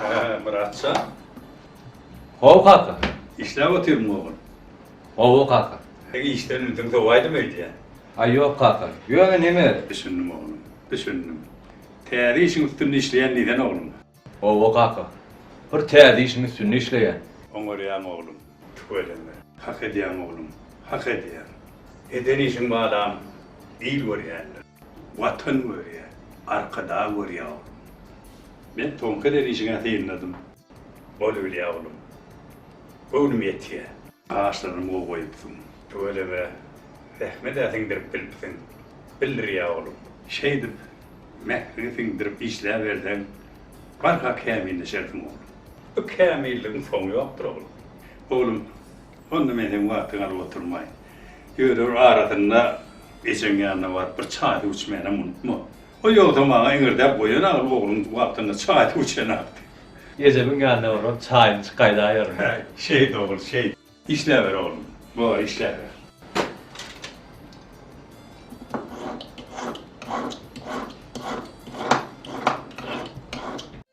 Hä, Myratja? Hawa, kaka. Işläp otyrmy, ogul? Hawa, kaka. Işden ünsiň sowaýdymy öýdýän? Aý, ýok, kaka. Ýöne neme? Düşündim, oglum, düşündim. Täze işiň üstünde işleýän diýsene, oglum? Hawa, kaka. Bir täze işiň üstünde işleýän. Oňarýaň, oglum, tüweleme. Hak edýäň, oglum, hak edýäň. Eden işiň balam il görýändir. Watan görýä, Arkadag görýä oglum. Men soňky derýjiňe synladym. Bolubilýä oglum. Göwnüm ýetýä. Gaşlaryňam gowy goýupsyň. Tüweleme, zähmet-ä siňdirip bilipsiň. Bildirýä oglum. Şeýdip, mähriňi siňdirip işläberseň, barha kämilleşersiň oglum. Bu kämilligiň soňy ýokdur oglum. Oglum, Onda men seň wagtyňy alyp oturmaýyn. Ýörür arasynda ejeň ýanyna baryp bir çaý-suw içmänem unutma. O ýogsa maňa eňirdäp goýan agyr ogluň wagtynda çaý-suw içenakdy. Ejemiň ýanyna baryp çaýyny içip gaýdaýaryn. Häý, şeýt ogul, şeýt. Işläber oglum. Bor, işläber.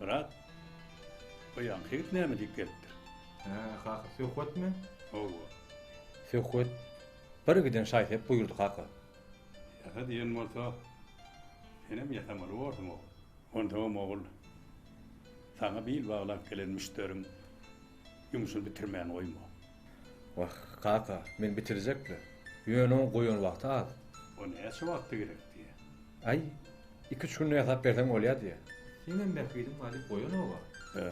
Myrat, bu ýaňky ýigit näme diýip gelipdir? Hä, kaka, söhbetmi? Hawa. Söhbet birgiden şaý-sep buýurdy, kaka. Ýasa diýen bolsa, senem ýasamaly borsuň, ogul. Onsoňam, ogul, saňa bil baglap gelen müşderiň ýumşuny bitirmän goýma. Wah, kaka, men bitirjek-le. Ýöne oň goýan wagty az. O näçe wagtda gerek diýýä. Aý, iki-üç günde ýasap berseň bolýa diýýä. Seňem bähbidiň bar diýip goýan-ow-a. Hä,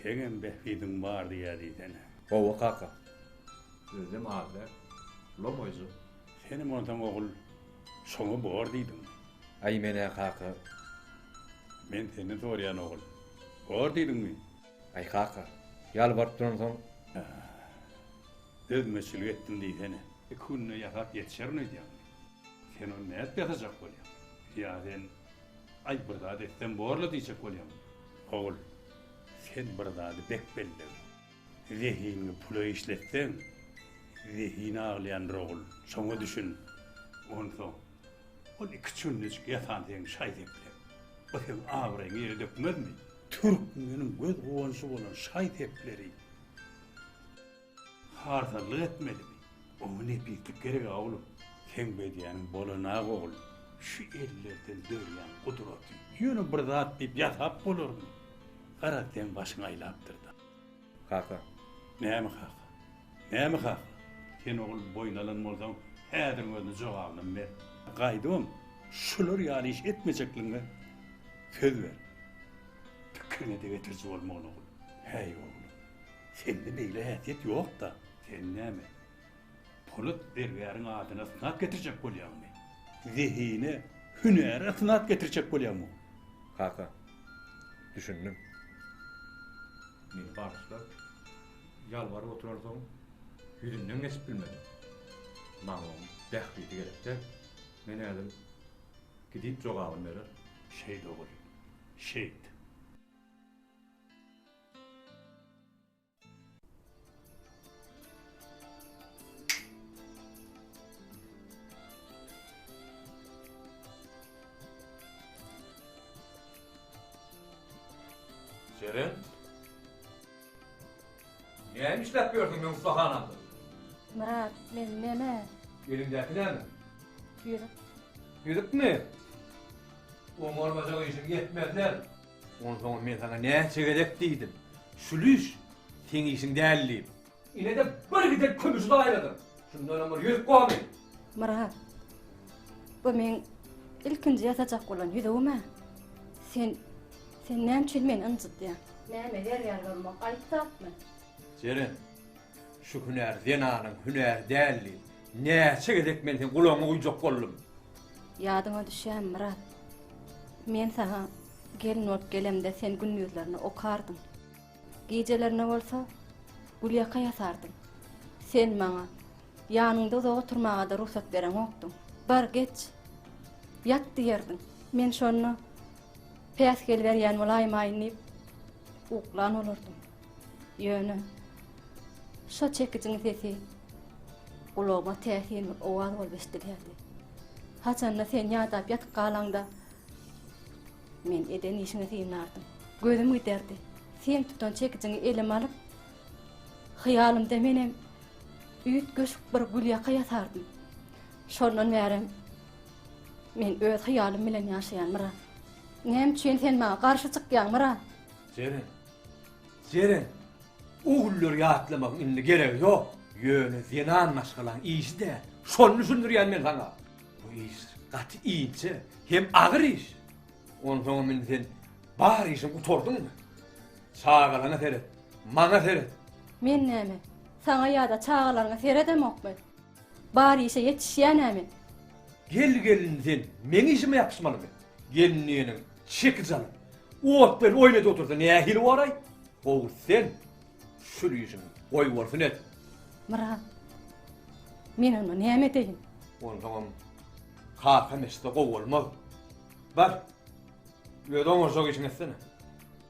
seňem bähbidiň bar diýýä diýsene. Hawa, kaka. Özem az däl. Lomaýjyk. Senem onsoň, ogul, şoňa bor diýdiňmi? Aý, men-ä, kaka. Men senden soraýan, ogul. Bor diýdiňmi? Aý kaka, ýalbaryp duransoň. Dözmeçilik etdim diýsene. Iki günde ýasap ýetişerin öýdýäňmi? Sen ony nädip ýasajak bolýaň? Ýa sen, Aý, bir zat etsem bor-la diýjek bolýaňmy? Ogul, sen bir zady bek belleg. Zehiniňi pula işletseň, zehini aglaýandyr, ogul, şoňa düşün. Onsoň, Ol iki çündejik ýatan seň şaý-sepleň. Bu seň abraýyňy ýere dökmezmi? Türkmeniň göz guwanjy bolan şaý-sepleri harzanlyk etmelimi? Oňa nepislik gereg-ä, oglum. Seň bedýäniň bolan-ak, oglum, şu ellerden dörýän gudraty. Ýöne bir zat diýip ýasap bolarmy? Garaz, seň başyň aýlapdyr-da. Kaka. Näme kaka? Näme kaka? Sen ogul boýun alan bolsaň, häziriň özünde jogabynam ber. Gaýdybam şular ýaly iş etmejekligiňe söz ber. Pikiriňe-de getiriji bolmagyn, ogul. Häý, oglum, sende beýle häsiýet ýok-da. Sen näme, Polat zergäriň adyna ysnat getirjek bolýaňmy? Zehine, hünäre ysnat getirjek bolýaňmy? Kaka, düşündim. Meni bagyşla, ýalbaryp oturansoň, ýüzünden geçip bilmedim. Maňa oň bähbidi gerek-dä. Men häzir gidip jogabyny berer. Şeýt ogul, şeýt. Jeren? Näme işläp ýörsüň meň ussahanamda? Myrat, men näme? Eliňdäki näme? Ýüzük. Ýüzükmi? Oňarmajak işiň ýetmez däl. Onsoňam men saňa näçe gezek diýdim, Şülüş, seň işiň däl diýip. Ine-de bir giden kümüşi zaýaladym. Şundanam bir ýüzük goly. Myrat, bu meň ilkinji ýasajak bolan ýüzügim-ä. Sen, sen näme üçin meni ynjydýaň? Näme zer-ýar bolmak aýyp zatmy? Jeren, Şu hünär zenanyň hünäri däldi. Näçe gezek men seň gulagyňy guýjak boldum. Ýadyňa düşýämi, Myrat? Men saňa gelin bolup gelemde sen gündizlerine okardyň. Gijelerine bolsa gülýaka ýasardyň. Sen maňa ýanyňda uzak oturmaga-da rugsat bereňokdyň. Bar, geç! Ýat! diýerdiň. Men şonda päsgel berýän bolaýmaýyn diýip uklan bolardym. Ýöne şo çekijiň sesi gulagyma täsinli owaz bolup eşidilýärdi. Haçanda sen ýadap ýatyp galaňda, men eden işiňi synlardym. Gözüm giderdi. Sen tutan çekijiňi elime alyp, hyýalymda menem üýtgeşik bir gülýaka ýasardym. Şondan bärem men öz hyýalym bilen ýaşaýan, Myrat. Näme üçin sen maňa garşy çykýaň, Myrat? Jeren! Jeren! O günleri ýatlamagyň indi geregi ýok. Ýöne zenan maşgalaň işi däl. Şony düşündirýän men saňa. Bu iş gaty inçe hem agyr iş. Onsoňam indi sen bar işiň gutardyňmy? Çagalaňa seret, maňa seret. Men näme, saňa ýa-da çagalaryňa seredemokmy? Bar işe ýetişýänämi? Gel gelin sen meň işime ýapyşmalymy? Gelin diýeniň çekiç alyp, ot bilen oýun edip otursa nähili bolaý? Gowy sen şul işiňi goýbolsun et. Myrat, men onda näme edeýin? Onsoňam kakam eşitse gowy bolmaz. Bar, öz oňarjak işiňi etsene.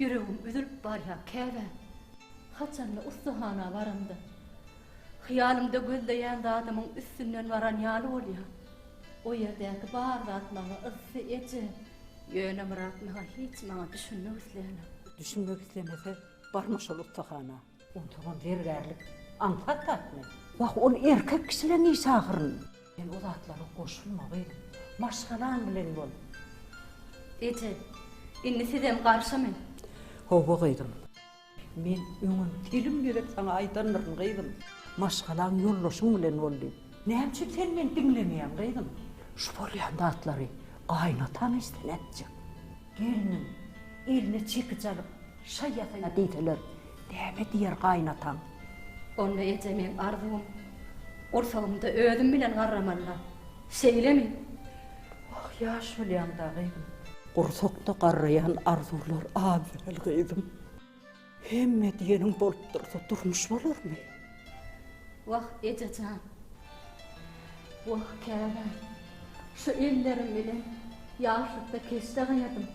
Ýüregim üzülip barýa käbä Haçanda ussahana baramda Hyýalymda gözleýän zadymyň Üstünden baran ýaly bolýa O ýerdäki bar zat maňa Yssy eje Ýöne Myrat naha hiç maňa Düşünmek isleýänem. Düşünmek islemese barma şol ussahana. Onsoňam zergärlik aňsat zatmy? Wah, ol erkek kişileň işi ahyryn. Sen o zatlara goşulma, gyzym. Maşgalaň bilen bol. Eje, indi sizem garşymy? Hawa, gyzym. Men öňem telim gezek saňa aýdandyryn, gyzym. Maşgalaň, ýoldaşyň bilen bol diýip. Näme üçin sen meni diňlemeýäň, gyzym? Şu bolýan zatlary gaýynataň eşitse nätjek? Gelniň eline çekiç alyp, Şaý ýasa-ýa diýseler, näme diýer gaýynataň? Onda eje meň arzuwym, gursagymda özüm bilen garramanda. Şeýlemi? Oh, ýaş bolýaň-da, gyzym. Gursakda garraýan arzuwlar az däl, gyzym. Hemme diýeniň bolup dursa, durmuş bolarmy? Wah, eje jan. Wah, käbäm. Şu ellerim bilen ýaşlykda keşde gaýadym.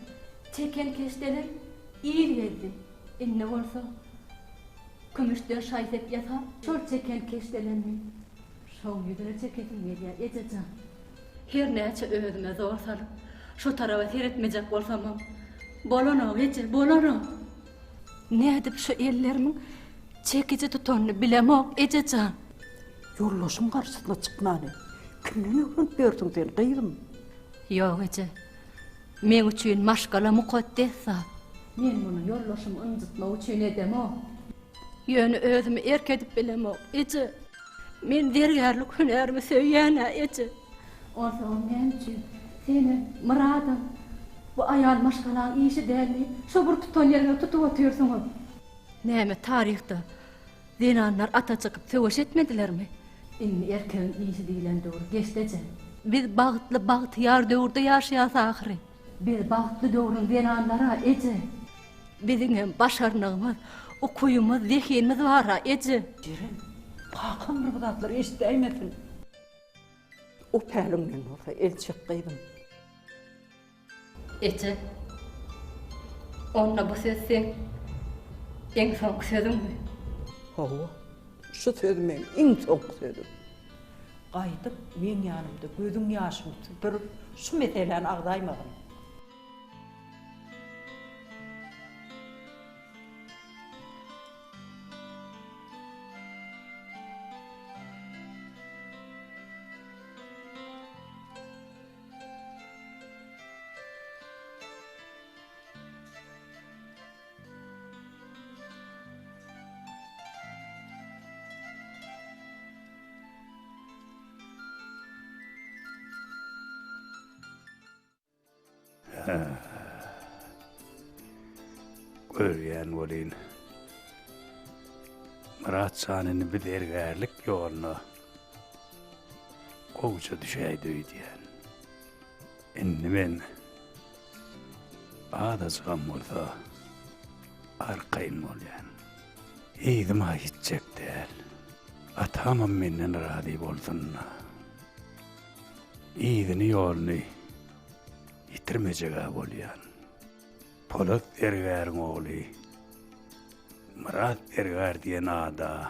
Çeken keşdeli il gezdi. Indi bolsa kümüşden şaý-sep ýasap, şol çeken keşdelemni şoň ýüzüne çekesim gelýär, eje jan. Her näçe özüme zor salyp, şo taraba seretmejek bolsamam, bolanok, eje, bolanok. Nädip şu ellerimiň çekiji tutanyny bilemok, eje jan. Ýoldaşyň garşysyna çykmany kimden öwrenip ýörsüň sen, gyzym? Ýok, eje. Meň üçin maşgala mukaddes zat. Men muny ýoldaşymy ynjytmak üçin edemok. Ýöne özümi erk edip bilemok, eje. Men zergärlik hünärimi söýýän-ä, eje. Onsoňam näme üçin seniň, Myradyň, bu aýal maşgalaň işi däl diýip, şo bir tutan ýeriňe tutup otyrsyňyz? Näme taryhda Zenanlar ata çykyp söweş etmedilermi? Indi erkegiň işi diýlen döwür geçdejä. Biz bagtly, bagtyýar döwürde ýaşaýas ahyry. Biz bagtly döwrüň zenanlary-a, eje. Biziňem başarnygymyz, ukybymyz, zehinimiz bar-a, eje. Jeren, kakam bir zatlar eşidäýmesin. O päliňden bolsa el çek, gyzym. Eje, onda bu söz seň iň soňky sözüňmi? Hawa, şu söz meň iň soňky sözüm. Gaýdyp, meň ýanymda gözüň ýaşyny süpürip, şu meseläni agzaýmagyn. Görýän welin, Myrat janyny biz ergärlik ýoluna Gowja düşäýdi öýdýän. Indi men azajygam bolsa arkaýyn bolýan. Yzyma gitjek däl. Atamam menden razy bolsun-da. Yzyny-ýoluny ýitirmejeg-ä bolýan. Polat zergäriň ogly Myrat zergär diýen ada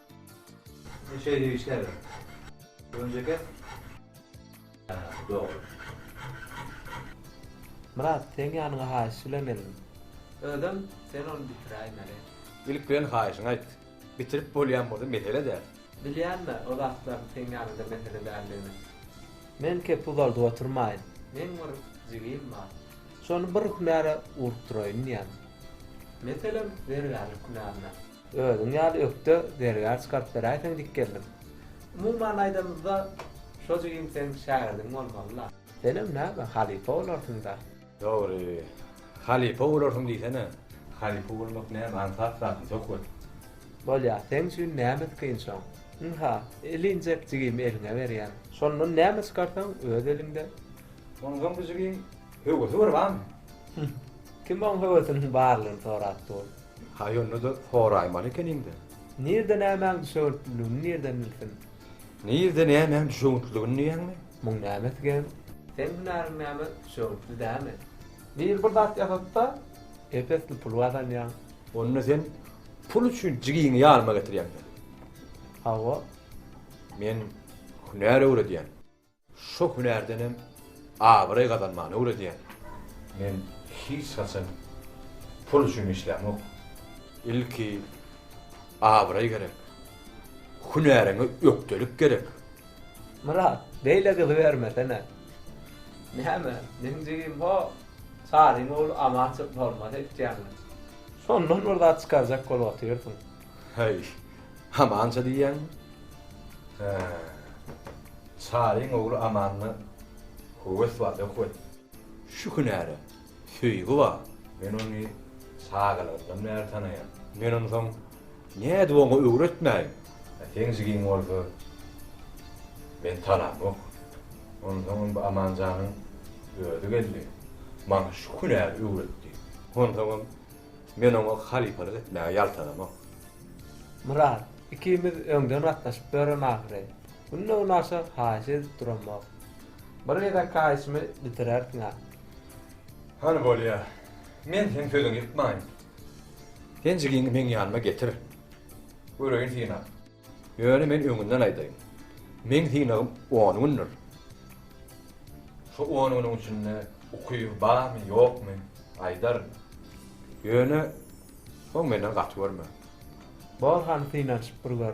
Siz şeýdip işläberiň. Öňje kes. Hä, dogry. Myrat, seň ýanyňa haýyş bilen geldim. Özem, sen ony bitiräýmeli. Ilk bilen haýyşyňy aýt. Bitirip bolýan bolsa mesele däl. Bilýän-le, o zatlaryň seň ýanyňda mesele däldigini. Men kep uzaldyp oturmaýyn. Meň bir jigim bar. Şony bir hünäre ugrukdyraýyn diýýän. Meselem, zergärlik hünärine. Özüň ýaly ökde zergär çykaryp beräýseň dik geldim. Umuman aýdanyňda şo jigim seň şägirdiň bolmalyla. Senem näme halypa bolarsyňda. Dogry. Halypa bolarsyň diýsene. Halypa bolmak näme aňsat zatmy söhbet. Bolýa seň üçin nämes kyn şoň. Ynha, eli injek jigimi eliňe berýän. Şondan näme çykarsaň öz eliňde. Onsoň bu jigiň höwesi bir bamy. Hüh. Kim oň höwesiniň barlygyny sorap dur. Ha ýonda-da soraýmaly ekeniň-dä. Nirde nämäň düşewüntliligini nirden bilsin? Nirde nämäň düşewüntliligini diýýäňmi? Muň nämesi gep? Seň hünäriň näme, düşewüntli dämi? Biri bir zat ýasatsa, ep-esli pul gazanýaň. Onda sen pul üçin jigiňi ýanyma getirýäň-dä? Hawa. Men hünär öwredýän. Şo hünärden hem abraý gazanmany öwredýän. Men hiç haçan pul üçin işlämok. Ilki abraý gerek. Hünäriňe ökdelik gerek. Myrat, beýle gyzy bermesene. Näme, meň jigim ho, Saryň ogly Amançyk bolmasa etýäňmi? Şondan bir zat çykarjak bolup otyrsyň. Heý, Amança diýýäňmi? Hä. Çaryň ogly Amanda höwes bar, ýok weli. Şu hünäre söýgi bar. Men ony çagalygyndan bäri tanaýan. Men onsoň nädip oňa öwretmäýin? A seň jigiň bolsa, men tanamok. Onsoňam bu Amanjanyň özi geldi, maňa şu hünäri öwretdi. Onsoňam Men oňa halypalyk etmäge ýaltanamok. Myrat, ikimiz öňden gatnaşyp ýörem ahyry. Günde-günaşa haýyş edip duramok. Bir gezek haýyşymy bitirersiň-ä. Hany bolýa. Men seň sözüňi ýykmaýyn. Sen jigiňi meň ýanyma getir. Göreýin synap. Ýöne men öňünden aýdaýyn. Meň synagym on gündir. Şu on günüň içinde ukyby barmy, ýokmy, aýdaryn. Ýöne soň menden gaty görme. Bor hany synanyşyp bir gör.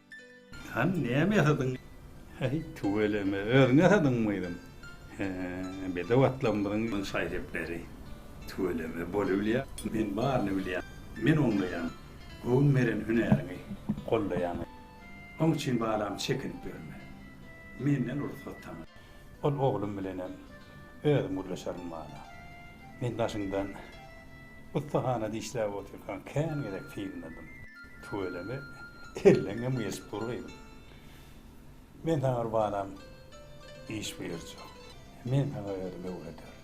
Hany, näme ýasadyň? Häý, tüweleme, özüň ýasadyňmy gyzym? Hä, bedew atlarymyzyň şaý-sepleri. Tüweleme, bolubilýär. Men baryny bilýän. Men oňlaýan. Göwün beren hünäriňi gollaýan. Oň üçin, balam, çekinip ýörme. Menden rugsat saňa. Ol oglum bilenem özüm gürleşerin, balam. Men daşyňdan ussahana dişläp otyrkaň kän gezek synladym. Tüweleme, elleňem geçip dur gyzym. Men saňa bir balam iş buýurjak. Men saňa özümi öwrederin.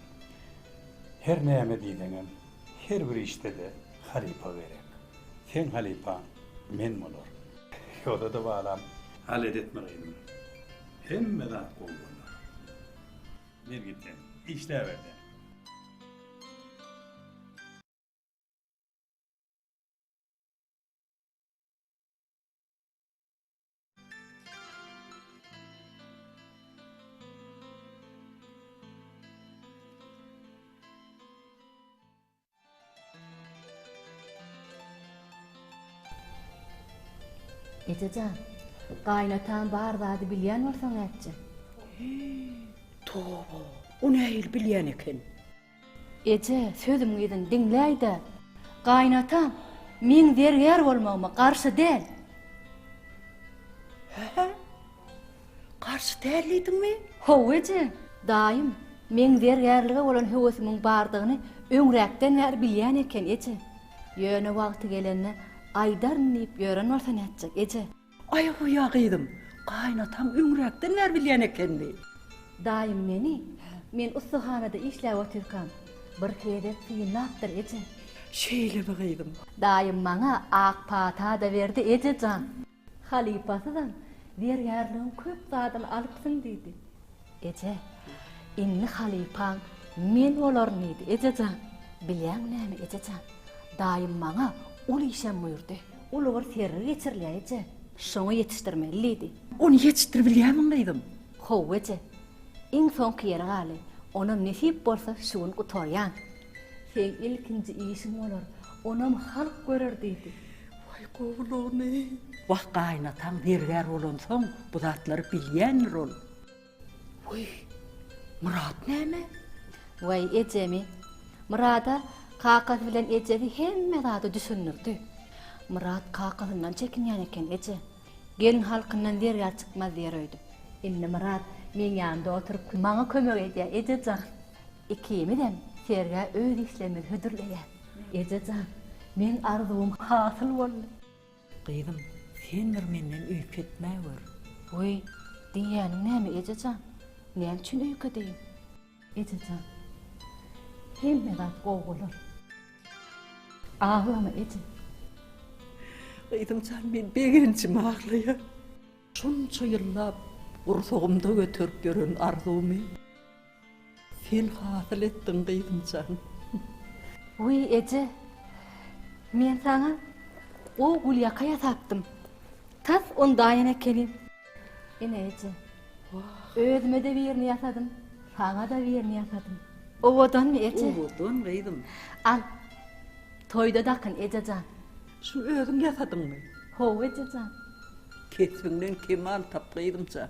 Her näme diýseňem, her bir işde-de halypa gerek. Seň halypaň men bolaryn. Ýoda-da balam. Halet etme gyzym. Hemme zat gowy bolar. Men gitdim. Işläber-de. Eje jan, gaýynataň bar zady bilýän bolsaň ätje. Hyý, toba, o nähili bilýän eken? Eje, sözüm yzyn diňläý-de, gaýynataň meň zergär bolmagyma garşy däl. Hä? Garşy däl diýdiňmi? Haw, eje. Daýym, meň zergärlige bolan höwesimiň bardygyny öňräkden bäri bilýän eken, eje. Ýöne wagty gelende aýdaryn diýip ýören bolsa nätjek, eje? Aý goýa gyzym, gaýynataň öňräkden bäri bilýän ekenmi? Daýym meni, men ussahanada işläp otyrkam, bir gezek synlapdyr, eje. Şeýlemi gyzym? Daýym maňa ak pata-da berdi, eje jan. Halypasyzam, Zergärligiň köp zadyny alypsyň diýdi. Eje, indi halypaň men bolarin diýdi, eje jan. Bilýäňmi näme, eje jan, daýym maňa uly işem buýurdy. Uly bir sergi geçirilýär, eje. Şoňa ýetişdirmeli diýdi. Ony ýetişdiribilýärmiň, gyzym? Hawa, eje. Iň soňky ýeri galy, onam nesip bolsa şu gün gutarýan. Seň ilkinji işiň bolar, onam halk görer diýdi. Waý, gowy bolany. Wah, gaýynataň zergär bolansoň, bu zatlary bilýändir ol. Wiý, Myrat näme? Waý, ejemi. Myrada kakasy bilen ejesi hemme zady düşündirdi. Myrat kakasyndan çekinýän eken, eje. Gelin halkyndan zergär çykmaz diýer öýdüp. Indi Myrat meň ýanymda oturyp, maňa kömek edýär, eje jan. Ikimizem sergä öz işlerimizi hödürleýäs. Eje jan, meň arzuwym hasyl boldy. Gyzym, sen bir menden öýke etmäwer. Weý, diýýäniň näme eje jan? Näme üçin öýke edeýin? Eje jan, hemme zat gowy bolar. Aglama, eje. Gyzym jan, men begenjime aglaýan. Şunça ýyllap gursagymda göterip ýören arzuwmy. Sen hasyl etdiň gyzymjan. Wiý eje, men saňa o gülýaka ýasapdym. Tas ondaýan ekeni. Ine eje, özüme-de birini ýasadym, saňa-da birini ýasadym. Owadanmy eje? Owadan gyzym. Al, toýda dakyn eje jan. Şuny özüň ýasadyňmy? Hawa eje jan. Kesbiňden kemal tap gyzymjan.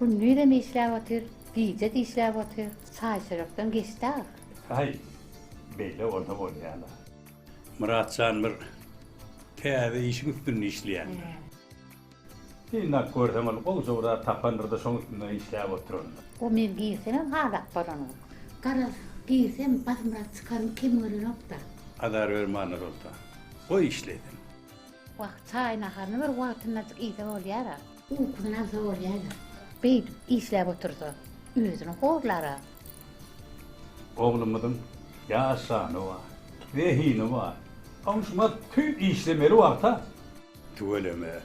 Gündizem işläp otyr, gije-de işläp otyr, çaýçörekden geçdi-aw. Haý, beýle bolsa bolýa-la. Myratjan bir täze işiň üstünde işleýändir. Synlap görsem, ol gowja bir zat tapandyr-da, şoň üstünde işläp oturandyr. O men girsemem halap bolanok. Garaz, girsem, Bazmyrat çykarmy, kim görenok-da. Azar berme, Annasoltan. Goý işlesin. Wah, çaý naharyny bir wagtyndajyk iýse bolýar-a. Ukusyny alsa bolýar-a. Beýdip işläp otursa, özüni horlar-a. Oglumyzyň ýaşany bar, zehini bar. Goňşyma tüý işlemeli wagta. Tüweleme,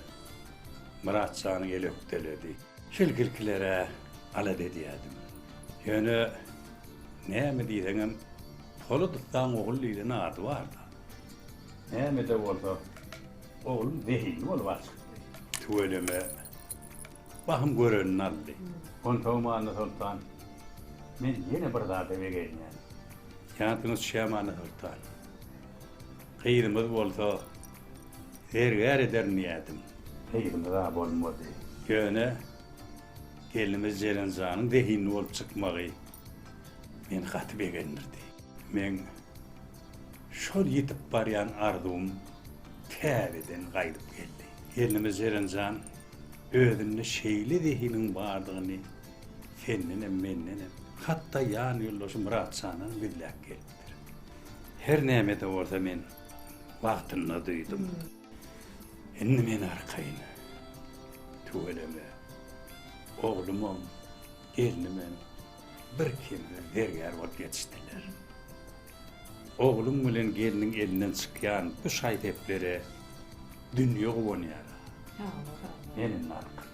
Myrat janyň eli ökdeledi. Şel girkilere alada edýärdim. Ýöne näme diýseňem, Poladowdaň ogly diýlen ady bar-da. Nämede bolsa, oglum zehinli bolup at çykdy. Tüweleme, bahym görenini aldy. Onsoňam Annasoltan, men ýene bir zada begenýän. Jansyňyz çigem Annasoltan. Gyzymyz bolsa, zergär ederin diýýädim. Gyzymyz-a bolmady. Ýöne, gelnimiz Jeren janyň zehinli bolup çykmagy meni gaty begendirdi. Men. Şol ýitip barýan arzuwym täzeden gaýdyp geldi. Gelnimiz Jeren jan, özünde şeýle zehiniň bardygyny sendenem, mendenem, hatda ýan ýoldaşy Myratjandan gizläp gelipdir. Her näme-de bolsa men wagtynda duýdum. Indi men arkaýyn. Tüweleme. Oglumam, gelnimem birkemsiz zergär bolup ýetişdiler. Ogluň bilen gelniň elinden çykýan bu şaý-seplere dünýe guwanýar. Sag bol, sag bol. Gelin halkym.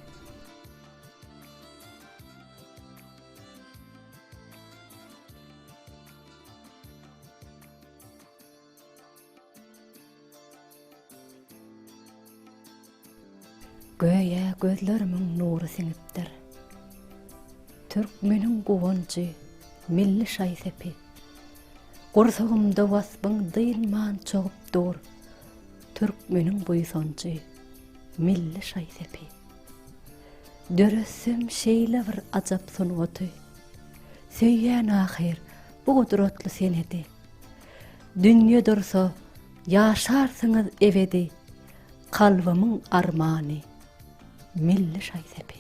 Göýä gözlerimiň nury siňipdir. Türkmeniň guwanjy, milli şaý-sepi. Gursagymda waspyň dynman çogup dur, Türkmeniň buýsanjy, milli şaý-sepi. Döretsem şeýle bir ajap sungaty, Söýýän ahyr, bu gudratly senedi. Dünýe dursa, ýaşarsyňyz ebedi, Kalbymyň armany, milli şaý-sepi.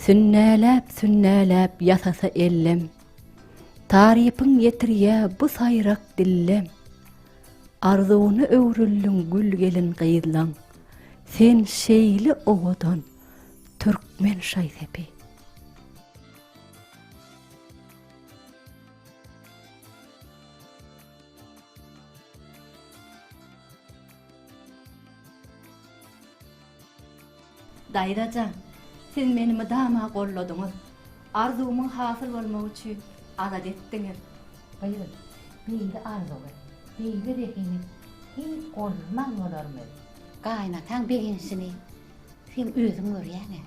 Sünnäläp-sünnäläp ýasasa ellem, Tarypyň ýetirýä bu saýrak dillem. Arzuwyna öwrüldiň gül gelin gyzlaň, Sen şeýle owadan, türkmen şaý-sepi. Daýzajan, siz meni mydama golladyňyz. Arzuwymyň hasyl bolmagy üçin adat etdiňiz. Gyzym, beýle arzuwy, beýle zehini hiç gollaman bolarmy? Gaýynataň begenişini sen özüň görýäň-ä.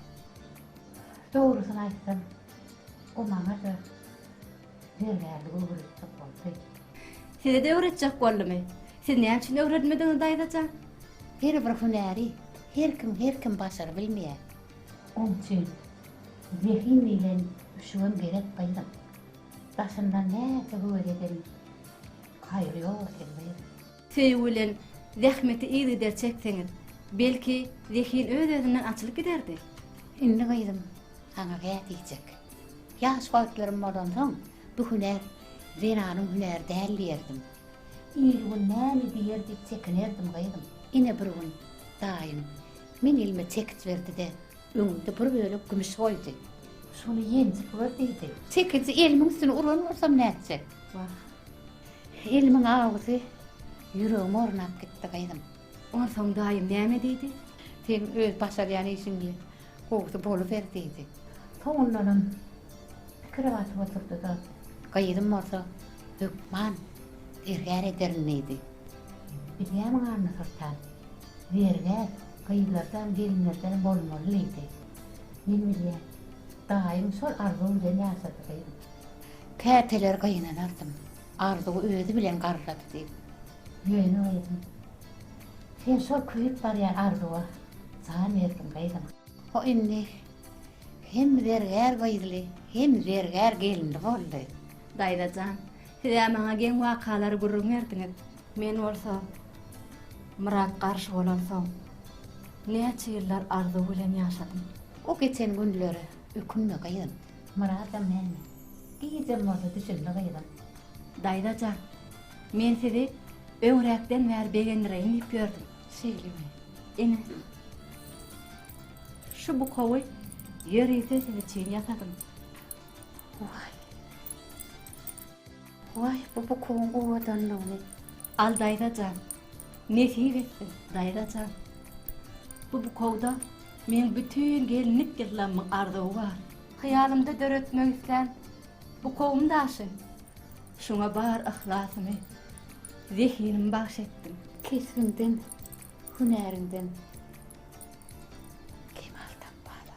Dogrusyny aýtsam, O maňa-da zergärlik öwredijek boldy. Size-de öwretjek boldumy? Siz näme üçin öwredmediňiz, daýza jan? Her bir hünäri her kim, her kim başarybilmeýär. Oň üçin zehin bilen üşügem gerek, gyzym. Daşyndan näçe höwes edelim, haýry ýok, Erbey. Söýgi bilen zähmeti yzygider çekseňiz, belki, zehin öz-özünden açylyp giderdi. Indi gyzym saňa gä diýjek. Ýaş wagtlarym bolansoň, bu hünär zenanyň hünäri däl diýerdim. Ir-gün näme diýer diýip çekinerdim gyzym. Ine bir gün daýym meň elime çekiç berdi-de, öňümde bir bölek kümüş goýdy. Şuny ýenjip gör diýdi. Çekiji elimiň üstüne uran bolsam nätjek? Wah, Elimiň awzy ýüregime ornap gitdi, gyzym. Onsoň daýym näme diýdi? Seň öz başarýan işiňi gowusy boluber, diýdi. Soňundanam pikire batyp oturdy-da. Gyzym bolsa, hökman zergär ederin, diýdi. Bilýärmiň, Annasoltan, zergär gyzlardan, gelinlerden bolmaly, diýdi. Men bilýän. Daýyň şol arzuw bilen ýaşady, gyzym. Käteler gynanardym, Arzuw özi bilen garrady diýip. Ýöne gyzym, sen şol köýüp barýan Arzuwa jan berdiň gyzym. O indi hem zergär gyzly, hem zergär gelinli boldy. Daýza jan, siz-ä maňa geň wakalary gürrüň berdiňiz. Men bolsa, Myrat garşy bolansoň, näçe ýyllar Arzuw bilen ýaşadym. O geçen günlere ökünme gyzym. Myradam näme? Gijäm bolsa düşündi gyzyň. Daýzajan, men sizi öňräkden bäri begendireýin diýip ýördüm. Şeýlemi? Ine, şu bukawy ýörite siz üçin ýasadym. Waý! Waý, bu bukuň owadanlygyny al daýza jan, nesip etsin, daýza jan. Bu bukawda meň bütin gelinlik ýyllamyň arzuwy bar. Hyýalymda döretmek islän bukawym daşyn, şoňa bar yhlasymy, zehinimi bagyş etdim. Kesbiňden, hünäriňden kemal tap, bala.